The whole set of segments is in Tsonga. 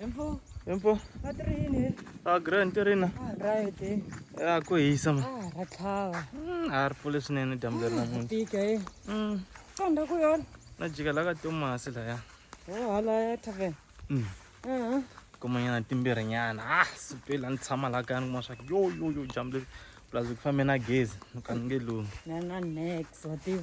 Empo. Empo. Matrini. Ah, grand tirina. Ah, right. Ah, ko hisa ma. Ah, ratlava. Mm, ah, ripfule swinene dyambu leri na munhu. Tika eh. Mm. Famba ku yona. Na jika la ka Thomas la ya. Oh, hala ya tavern. Mm. Mhm. Kumanyana timbirhi nyana. Ah, sipela ni tshama la ka ni kuma swa yo yo yo dyambu leri. Plus ku fambe na gezi, ni ka ni nge lumi. Na na next, wa tiva.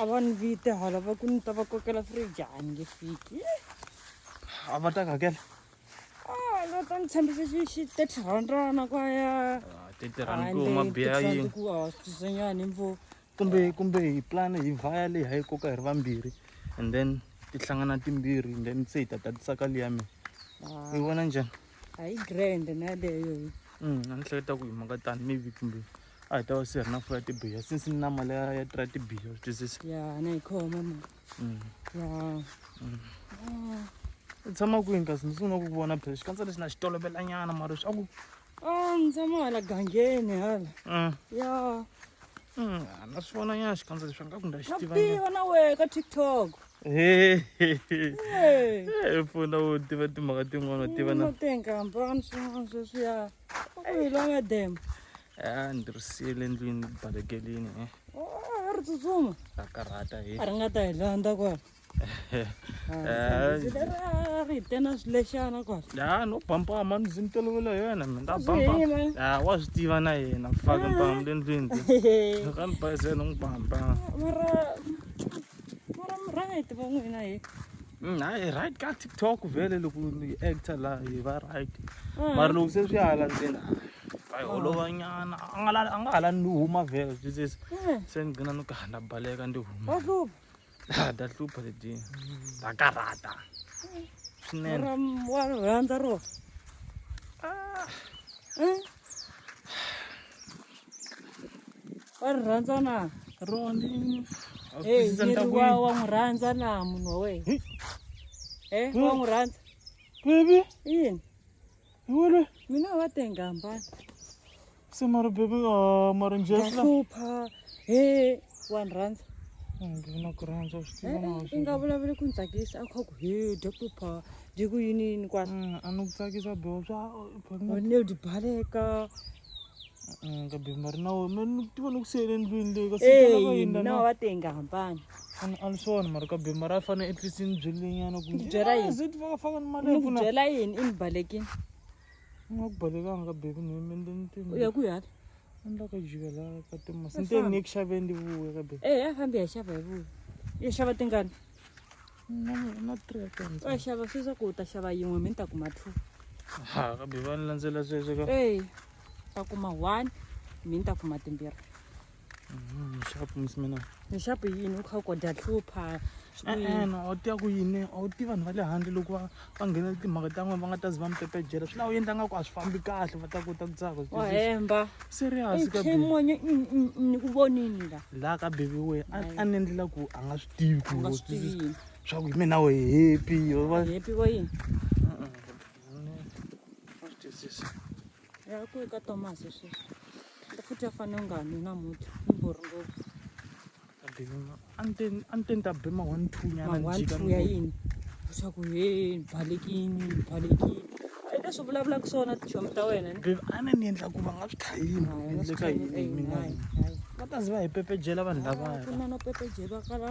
a va ni vite hala va ku ni ta va kokela fridge a ni nge fiki a va ta ku hakela va ta ni tshembisa xi thirty rhandrana kwaya ah, thirty rand ku ma biya yini ku a swisanyani mvo kumbe kumbe hi plan hi vhaya leyi hayi koka hi ri vambirhi and then ti hlangana timbirhi and then se hi ta tatisaka leyi ya mina ah. yi vona njhani a yi grand na leyo mm, a ni hleketa ku hi mhaka tani maybe kumbe a hi ta va se ri na fo ya tibiya since ni nama leya ya tira tibiya u twisisa ya na yi khoma ma mm. ya mm. u tshama kwini kasi ni sungula ku ku vona phela xikandza lexi na xi tolovelanyana mara swa ku a ni tshama hala gangeni hala mm. ya na swi vona nyana xikandza leswi nga ku nda xi tiva na wehe ka tiktok pfuna u tiva timhaka tin'wana u tiva na tenkampani swin'wana sweswiya dem a ndzi ri siyele endlwini balekelini e a ri tsutsuma a karhata hi a ri nga ta hi landza kwala ri hi tena swilexana kwala ya no bampama ni ndzi ni tolovela yena mi ta bampama wa swi tiva na yena faka mpamu le ndlwini ka ni bayizela n'wi bampama mara mara mi right va n'wina hi mm, hayi right ka tiktok vele loko ni actor la hi va right mm. mara loko se swi hala ndzeni hayi holova nyana a nga a nga hala ni huma vele swi se mm. se ni gcina ni kahanda baleka ndi huma wa hlupha ha da hlupha leti ta karata swinene wa rhandza ro ah. wa ri rhandza na Ronnie. Hey, Twisisa ni ri ndhavuko wa yini? wa n'wi rhandza na munhu wa wena. Eh, wa n'wi rhandza. Baby, Yini? hi wena. Mina wa tenga hambana. Se mara baby, ah, mara njhe Wa swi la. hlupha. Hey, wa ni rhandza. Ndzi na ku rhandza swi Eh, tiva eh, na i nga vulavuli ku ni tsakisa a kha ku he dya hlupha Ndiku yini yini kwa. Mm, anokutsakisa bro swa fanele u baleka. Mm, ka bimba ri na wena mani ni tiva ni ku siyele endlwini leyi kasi yini na wa tenga hambana fana a ni swona mara ka bimba ra fana at least ni byelenyana ku byela yini zit faka faka ni mali ku byela yini i ni balekini ni nga ku balekanga ka baby ni mi ndi ni tini ya ku yala ni la ka jika la ka timo sinte ni ku xaveni ndi vuya ka baby eh ya fambi ya xava hi vuya ya xava tingani va xava swi swa ku u ta xava yin'we mi ni ta kuma two ha kambe va ni landzela sweswo ka e ta kuma one mi ni ta kuma timbirhi nxapu mhm, misimina nxapu yini u kha u kodya hlupha e-e u tiva ku yini a wu tivi vanhu va le handle loko va va nghena timhaka ta n'wina va nga ta zi va mi pepejela swi laha u endla nga ku a swi fambi kahle va ta kota ku tsaka wa hemba serious ka baby mwenye ni ku vonini la la ka baby we a ni endlela ku a nga swi tivi ku nga swi tivi swa ku mina we happy yo va happy wa yini a swi twisisi ya ku ka Thomas sweswi futhi a fanele u nga nwi na muti ni borhi ngopfu a ni te ni ta be ma one two nyana ya yini leswaku he ni balekini ni balekini i leswi vulavulaka swona tichomi ta wena a ni ni endla ku va nga swi khayini endleka yini mina va ta zi va hi pepejela vanhu lavaya ku na no pepejela kala